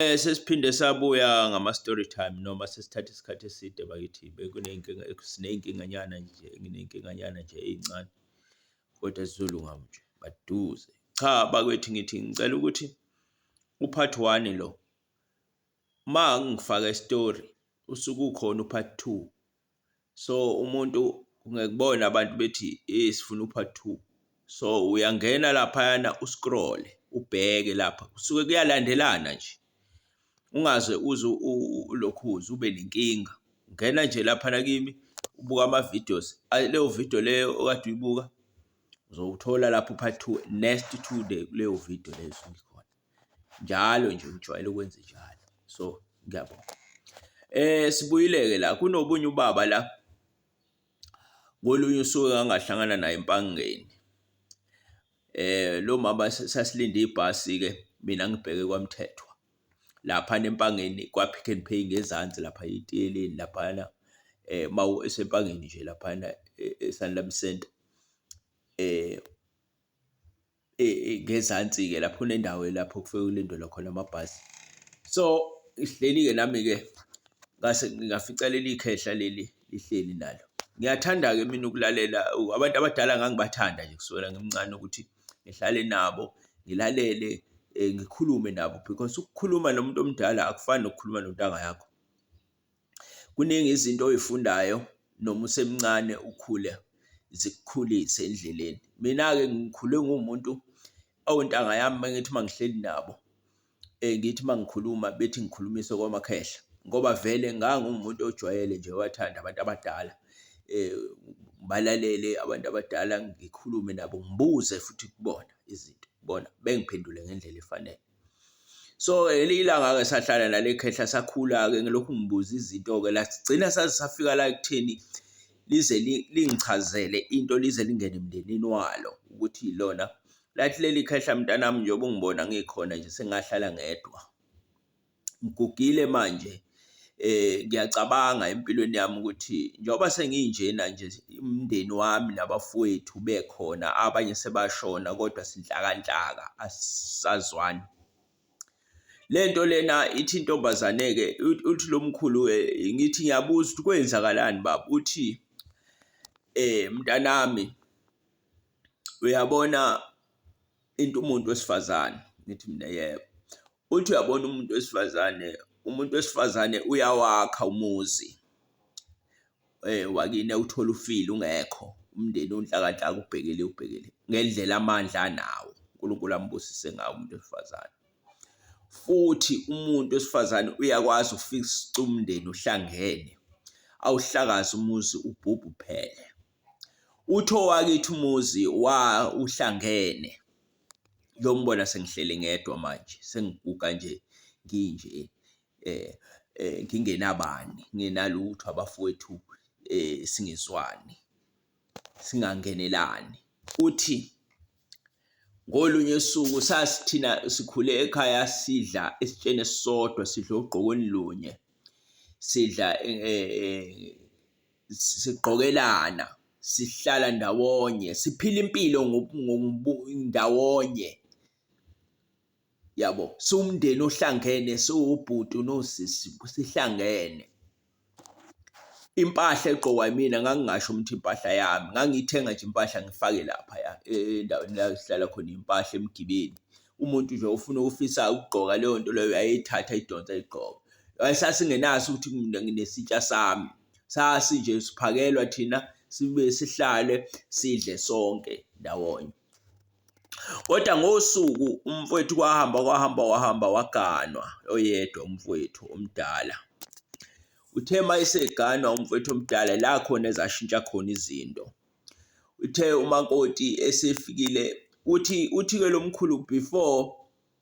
Sesiphinde sabuya ngama-story time noma sesithathe isikhathi eside bakithi, bekuney'nkinga siney'nkinganyana nje, nginey'nkinganyana nje ey'ncane kodwa zizolunga nje maduze. Cha bakwethu ngithi ngicela ukuthi u-part one lo, uma ngifaka i-story usuke ukhona u-part two. so umuntu ungekubona abantu bethi eh sifuna upart two so uyangena laphayana uscroll ubheke lapha kusuke kuyalandelana nje ungaze uze ulokhu uze ube nenkinga ungena nje laphana kimi ubuka ama-videos leyo video leyo okade uyibuka uzowuthola lapho upart two next to the kuleyo video leyo esuke ikhona. njalo nje ngijwayele ukwenza njalo. So, ngiyabonga. Sibuyile-ke la, kunobunye ubaba la, kolunye usuku engangahlangana naye eMpangeni. Lo mama sasilinde ibhasi-ke mina ngibheke kwaMthethwa laphana eMpangeni kwa-Pick n Pay ngezansi lapha etiyeleni laphayana uma eseMpangeni nje laphayana eSanlam Centre . ngezansi-ke lapho kunendawo lapho kufike kulindelwe khona amabhasi. So, sihleli-ke nami-ke ngase ngafica leli khehla leli lihleli nalo. Ngiyathanda-ke mina ukulalela abantu abadala ngangibathanda nje kusukela ngimncane ukuthi ngihlale nabo, ngilalele, ngikhulume nabo because ukukhuluma nomuntu omdala akufani nokukhuluma nontanga yakho. Kuningi izinto oy'fundayo noma usemncane ukhule zikukhulise endleleni. Mina-ke ngikhule nguwumuntu ontanga yami uma ngithi uma ngihleli nabo ngithi uma ngikhuluma bethi ngikhulumise komakhehla ngoba vele ngangiwumuntu ojwayele nje owathanda abantu abadala ngibalalele abantu abadala, ngikhulume nabo ngibuze futhi kubona izinto bona bengiphendule ngendlela efanele. So ngelinye ilanga-ke sahlala nale khehla sakhula-ke ngilokhu ngibuza izinto-ke la sigcina saze safika la ekutheni lize lingichazele into lize lingene emndenini walo ukuthi lona lathi leli khehla mntanami njengoba ungibona ngikhona nje sengahlala ngedwa ngigugile manje Ngiyacabanga empilweni yami ukuthi njengoba senginjena nje umndeni wami nabafowethu bekhona abanye sebashona kodwa sinhlakanhlaka asisazwani. Le nto lena ithi intombazane-ke uthi lo mkhulu ngithi ngiyabuza ukuthi kwenzakalani baba? Uthi mntanami uyabona into umuntu wesifazane, ngithi mina yebo. uthi uyabona umuntu wesifazane umuntu wesifazane uyawakha umuzi eh wakine uthola ufile ungekho umndeni unhlakadlaka ubhekele ubhekele ngendlela amandla anawo uNkulunkulu ambusise ngawo umuntu wesifazane futhi umuntu wesifazane uyakwazi ufixa umndeni uhlangene awuhlakaza umuzi ubhubhu phele utho wakithi umuzi wa uhlangene Ngiyombona sengihleli ngedwa manje, sengiguga nje nginje ngingenabani, ngingenalutho abafowethu singezwani, singangenelani. Uthi ngolunye usuku sasithina sikhule ekhaya sidla esitsheni esisodwa, sidla ogqokweni lunye, sidla sigqokelana sihlala ndawonye siphila impilo ndawonye yabo siwumndeni ohlangene siwubhuti nosisi sihlangene impahla egqokwa yimina ngangingasho ukuthi impahla yami ngangiyithenga nje impahla ngifake lapha ya endaweni la sihlala khona impahla emgibeni umuntu nje ufuna ukufisa ukugqoka leyo nto leyo ayeyithatha idonsa igqoka wayesasingenaso ukuthi mina nginesitsha sami sasinje siphakelwa thina sibe sihlale sidle sonke ndawonye kodwa ngosuku umfowethu kwahamba kwahamba wahamba waganwa oyedwa umfowethu omdala uthe uma eseganwa umfowethu omdala la khona ezashintsha khona izinto uthe umakoti esefikile uthi uthi ke lomkhulu before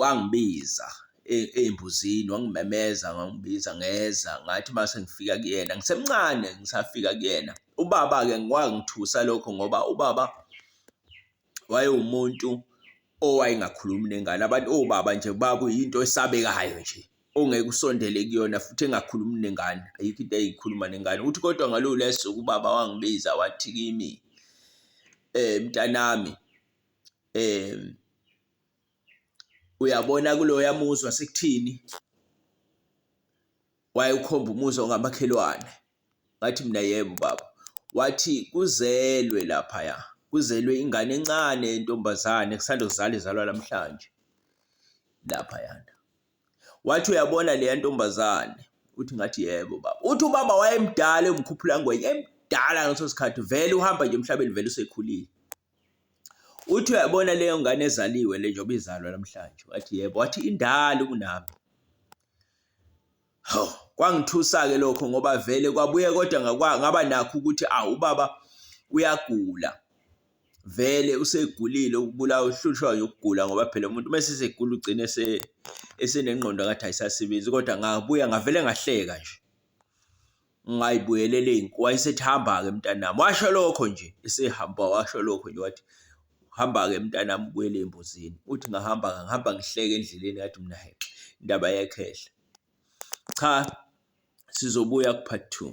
Wangibiza ey'mbuzini wangimemeza wangibiza ngeza ngathi uma sengifika kuyena, ngisemncane ngisafika kuyena. Ubaba-ke kwangithusa lokho ngoba ubaba wayewumuntu owayengakhulumi nengane, abantu obaba nje bakuyinto esabekayo nje ongeke usondele kuyona futhi engakhulumi nengane, ayikho into ayeyikhuluma nengane. Uthi kodwa ngaloluya suku ubaba wangibiza wathi kimi, mntanami eh uyabona kuloya muzwa sekuthini wayekhomba umuzi ongamakhelwane ngathi mina yebo baba wathi kuzelwe laphaya kuzelwe ingane encane yentombazane kusanda kuzala izalwa namhlanje laphaya wathi uyabona leya ntombazane uthi ngathi yebo baba uthi ubaba wayemdala umkhuphula ngwenye emdala ngaleso sikhathi vele uhamba nje emhlabeni vele usekhulile Uthi uyabona leyo ngane ezaliwe le njengoba izalwa namhlanje, wathi yebo, wathi indala kunami. Hawu, kwangithusa-ke lokho ngoba vele kwabuye kodwa ngaba nakho ukuthi awu ubaba uyagula vele usegulile ukubulawa uhlushwa yokugula ngoba phela umuntu uma esesegula ugcine esenengqondo ngathi ayisasebenzi kodwa ngabuya ngavele ngahleka nje. ngingayibuyelele inkomo wayesethi hamba-ke mntanami washo lokho nje esehamba washo lokho nje wathi hamba-ke mntanami ubuyele embuzini uthi ngahamba ngihamba ngihleke endleleni yathi mina hexe indaba yekhehla cha sizobuya ku-part two